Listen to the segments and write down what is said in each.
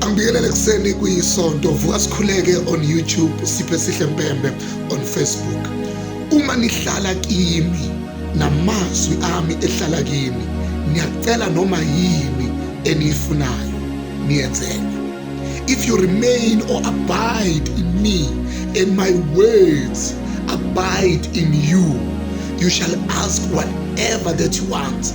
Angibingelele kuseni kuyisonto vuka sikhuleke on YouTube siphe sihle mpembe on Facebook uma nihlala kimi namazwi ami ehlala kimi niyacela noma yini eniyifunayo niyenzele if you remain or abide in me and my words abide in you you shall ask whatever that you want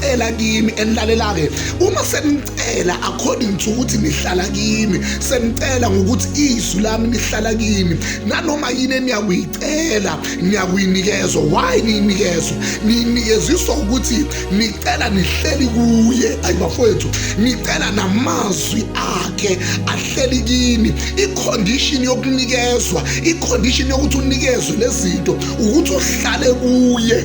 cela kimi enilalelake uma senicela according to ukuthi nihlala kimi senicela ngokuthi izwi lami lihlala kimi nanoma yini eniyakuyicela niyakuyinikezwa why niyinikezwa niyinikeziswa ukuthi nicela nihleli kuye ayi bafowethu nicela namazwi akhe ahleli kini icondition yokunikezwa icondition yokuthi unikezwe lezinto ukuthi uhlale kuye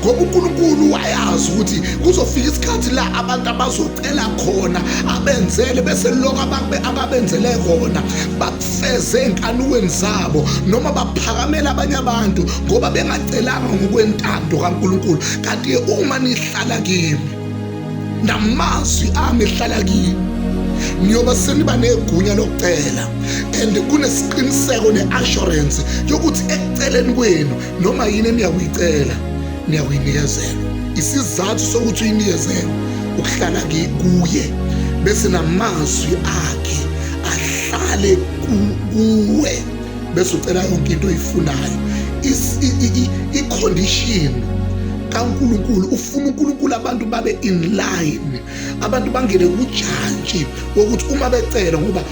ngoba uNkulunkulu wayazi ukuthi kuzofika isikhathi la abantu abazocela khona abenzele bese lokho ababenzele kona bakufeze enkanukweni zabo noma baphakamela abanye abantu ngoba bengacelanga ngokwentando kaNkulunkulu kanti uma nihlala kimi namazwi ami ehlala kimi niyoba seniba negunya lokucela and kunesiqiniseko ne-assurance yokuthi ekuceleni kwenu noma yini eniyakuyicela niyakuyinikezelwa isizathu sokuthi uyinikezelwe ukuhlala kuye bese namazwi akhe ahlale kuwe bese ucela yonke into oyifunayo i-condition kaNkulunkulu ufuna uNkulunkulu abantu babe in line abantu bangene kujantshi wokuthi uma becela ngoba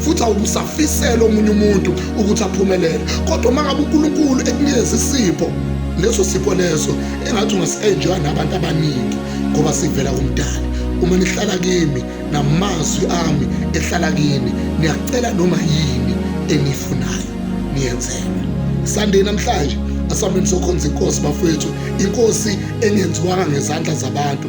futhi awubusafisela omunye umuntu ukuthi aphumelele kodwa uma ngabe unkulunkulu ekunikeza isipho leso sipho leso engathi ungasi-enjoya nabantu abaningi ngoba sivela kumdala uma nihlala kimi namazwi ami ehlala kini niyacela noma yini eniyifunayo niyenzelwe sande namhlanje asambeni sokhonza inkosi bafowethu inkosi engenziwanga ngezandla zabantu